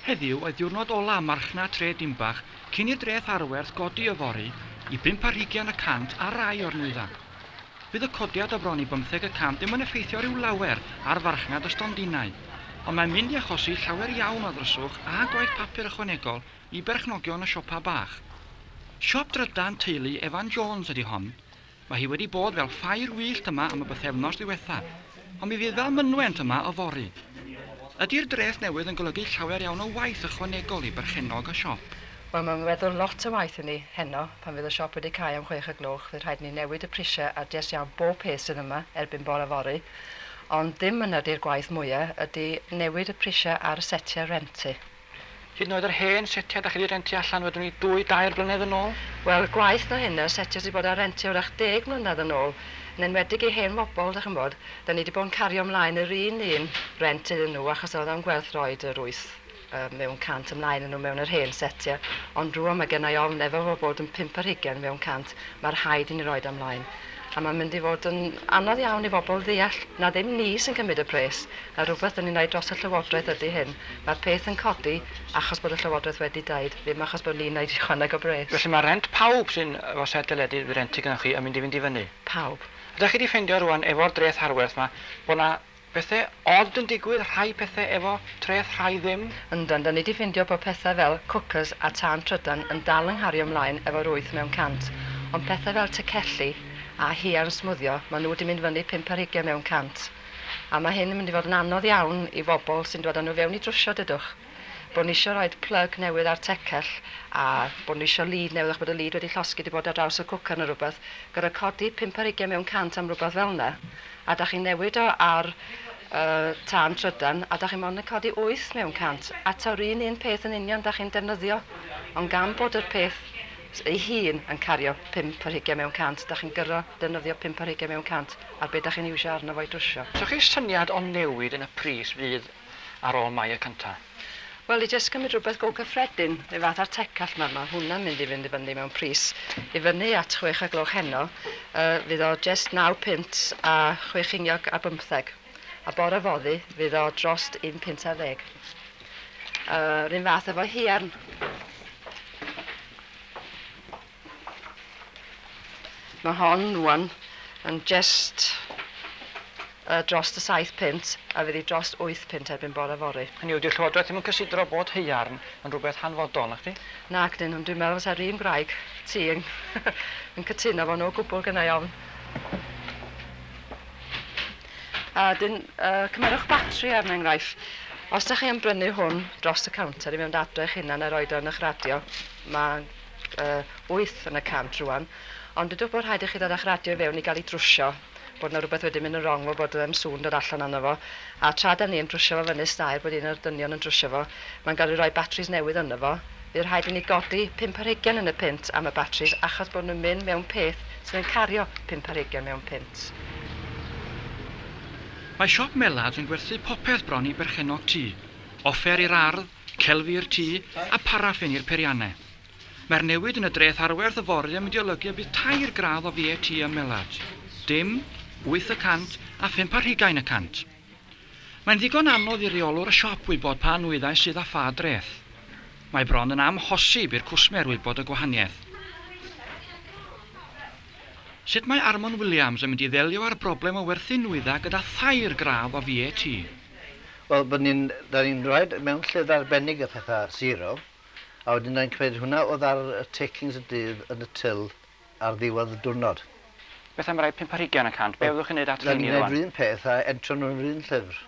Heddiw oedd diwrnod ola' marchnad tref Dinbach cyn i'r dreth arwerth godi yfory i bump ar hugian y cant ar rai o'r nwyddau. Fydd y codiad o bron i bymtheg y cant ddim yn effeithio rhyw lawer ar farchnad y stondinau, ond mae'n mynd i achosi llawer iawn o ddryswch a gwaith papur ychwanegol i berchnogion y siopa' bach. Siop drydan teulu Evan Jones ydi hon, Mae hi wedi bod fel ffair wyllt yma am y bythefnos ddiwethaf, ond mi fydd fel mynwent yma yfory. Ydi'r dreth newydd yn golygu llawer iawn o waith ychwanegol i berchennog y siop? Wel, mae'n weddol lot o waith i ni. Heno, pan fydd y siop wedi cau am chwech y gloch, fydd rhaid i ni newid y prisiau ar jest iawn bob peth sydd yma erbyn bore fory. Ond ddim yna di'r gwaith mwya, ydi newid y prisiau ar y setiau rhent ti. Hyd yn oed yr hen setiau 'da chi 'di rentio allan wedwn i dwy, dair blynedd yn ôl? Wel, gwaeth na hynna, setiau sy 'di bod ar rentio 'w'rach deg mlynedd yn ôl, yn enwedig i hen fobl, 'dach ch'mbod, 'dan ni 'di bod yn cario mlaen yr un un rent iddyn nhw achos o'dd o'n gwerth roid yr wyth yy mewn cant ymlaen â nhw mewn yr hen setia, ond rŵan ma' gennai ofn efo fo bod yn pump ar hugen mewn cant, ma' rhaid i ni roid o mlaen. A mae'n mynd i fod yn anodd iawn i bobl ddeall na ddim ni sy'n cymryd y pres, na rhywbeth dan ni'n rhoi dros y Llywodraeth ydy hyn. Mae'r peth yn codi achos bod y Llywodraeth wedi deud, ddim achos bod ni'n rhaid ychwaneg o bres. Felly mae rhent pawb sy'n efo set deledu dwi rentu gynnoch chi yn mynd i fynd i fyny. Pawb. A dach chi 'di ffeindio rŵan efo'r dreth harwerth 'ma bod 'na Pethe od yn digwydd, rhai pethe efo treth rhai ddim. Yndan, dan ni di ffindio bod pethau fel cwcys a tân trydan yn dal yng nghario mlaen efo'r wyth mewn cant, ond pethau fel tecelli a huan smwddio ma nhw di mynd fyny pump ar hugian mewn cant. A ma hyn yn mynd i fod yn anodd iawn i fobl sy'n dwad a nhw fewn i drwsio dydwch. Bod ni isio rhoid plug newydd ar tecell a bod ni isio lead newydd achos bod y lead wedi llosgi 'di bod ar draws y cwcar neu rywbeth. Gor'o' codi pump ar hugen mewn cant am rywbeth fel 'na. A 'dach chi'n newid o ar yy tân trydan a 'dach chi mond yn codi wyth mewn cant. A 'ta'r un un peth yn union 'dach chi'n defnyddio. Ond gan bod yr peth s- ei hun yn cario pump ar hugen mewn cant 'dach chi'n gyr'o' defnyddio pump ar hugen mewn cant ar be' 'dach chi'n iwsio arno fo i drwsio. Os ewch chi'r syniad o newid yn y pris fydd ar ôl mai y cynta. Wel i jyst cymryd rhywbeth go cyffredin, rhyw fath ar tecallt ma ma hwnna'n mynd i fynd i fyny mewn pris i fyny at chwech a gloch heno yy fydd o jest naw punt a chwe chiniog a bymtheg a bore foddi fydd o drost un punt ar ddeg. Yy run fath efo hiarn. Mae hon rwan yn jest yy drost y saith punt a fydd hi drost wyth punt erbyn bore fory. Hynny yw, 'di'r Llywodraeth ddim yn cysidro bod haearn yn rhywbeth hanfodol, nacdi? Nac 'dyn, ond dwi'n meddwl fysa'r un gwraig ti yn yn cytuno fo' no gwbwl gynnau ofn. A 'dyn, yy, cymerwch batri er enghraifft. Os 'dach chi yn brynu hwn drost y counter i fynd adre eich hunan a roid o yn y'ch radio, ma' wyth yn y cant rwan, ond dydwch bod rhaid i chi ddod a'ch radio i fewn i gael ei drwsio, bod yna rhywbeth wedi mynd yn wrong fel bod ddim sŵn dod allan arno fo, a tra da ni yn drwsio fo fyny stair bod un o'r dynion yn drwsio fo, mae'n gael ei roi batris newydd yno fo, fydd rhaid i ni godi pump ar hugain yn y punt am y batris achos bod nhw'n mynd mewn peth sydd yn cario pump ar hugain mewn punt. Mae siop Mellard yn gwerthu popeth bron i berchennog tŷ, offer i'r ardd, Celfi'r tŷ a pharaffin i'r peiriannau. Mae'r newid yn y dreth arwerth yfory yn mynd i olygu y bydd tair gradd o VAT ym Melard. Dim, wyth y cant a phump ar hugain y cant. Mae'n ddigon anodd i reolwr y siop wybod pa nwyddau sydd â pha dreth. Mae bron yn amhosib i'r cwsmer wybod y gwahaniaeth. Sut mae Armon Williams yn mynd i ddelio â'r broblem o werthu nwyddau gyda thair gradd o VAT? Wel, bod ni'n... dan ni'n rhoid mewn lled arbennig a phetha, zero, a wedyn dan ni'n cymryd hwnna odd ar y takings y dydd yn y tyl ar ddiwedd y dwrnod. Beth am rai pump ar hugain y cant, be fyddwch chi'n neud at rheini rwan? Dan ni'n neud run peth a entro nhw yn run llyfr.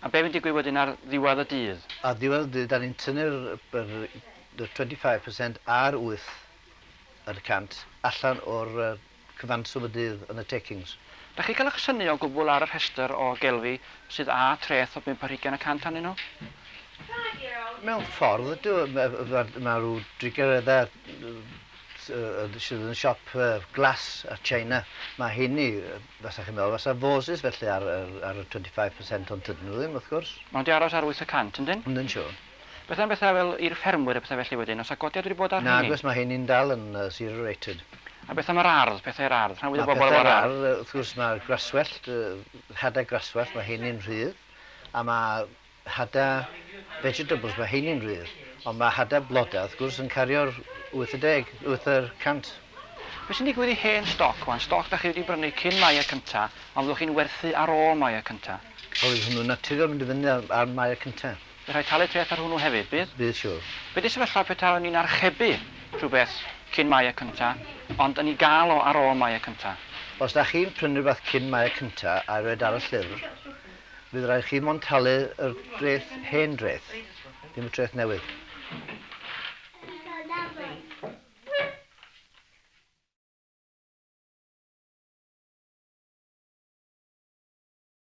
A be fy'n digwydd wedyn ar ddiwedd y dydd? Ar ddiwedd y dydd dan ni'n tynnu'r yr y twenty five percent a'r wyth yr y cant allan o'r cyfanswm y dydd yn y Takings. Dach chi'n cael eich synnu o gwbl ar y rhestr o gelfi sydd â treth o bump ar hugain y cant arnyn nhw? Mewn ffordd ydw, mae rhyw drigareda sydd yn y siop glas a china, mae heini, fasa chi'n meddwl, fasa vases felly ar y 25% ond tydyn nhw ddim wrth gwrs. Mae nhw 'di aros ar wyth y cant yndyn? Yndyn siŵr. Beth am bethau fel i'r ffermwyr a pethau felly wedyn? Oes 'na godiad wedi bod ar rheiny? Nag oes, mae rheini'n dal yn zero rated. A beth am yr ardd, pethau i'r ardd? Rhan fwyaf o bobl efo'r ardd. Mae pethau i'r ardd, wrth gwrs mae'r gwraswellt, hadau gwraswellt, mae rheini'n rhydd, a mae hadau vegetables, mae rheini'n rhydd, ond mae hadau blodau wrth gwrs yn cario'r 80, wyth y cant. Beth sy'n digwydd i hen stoc wan, stoc dach chi wedi brynu cyn Mai y cynta, ond fyddwch chi'n werthu ar ôl Mai y cynta? Wel fydd hwnnw'n naturiol mynd i fyny ar Mai y cynta. Bydd rhaid talu treth ar hwnnw hefyd, bydd? Bydd, siŵr. Be di sefyllfa petawn ni'n archebu rhywbeth cyn Mai y cynta, ond yn i gael o ar ôl Mai y cynta? Os da chi'n prynu rhywbeth cyn Mai y cynta a roed ar y llyfr, fydd rhaid chi mond talu yr dreth, hen dreth, ddim y treth newydd.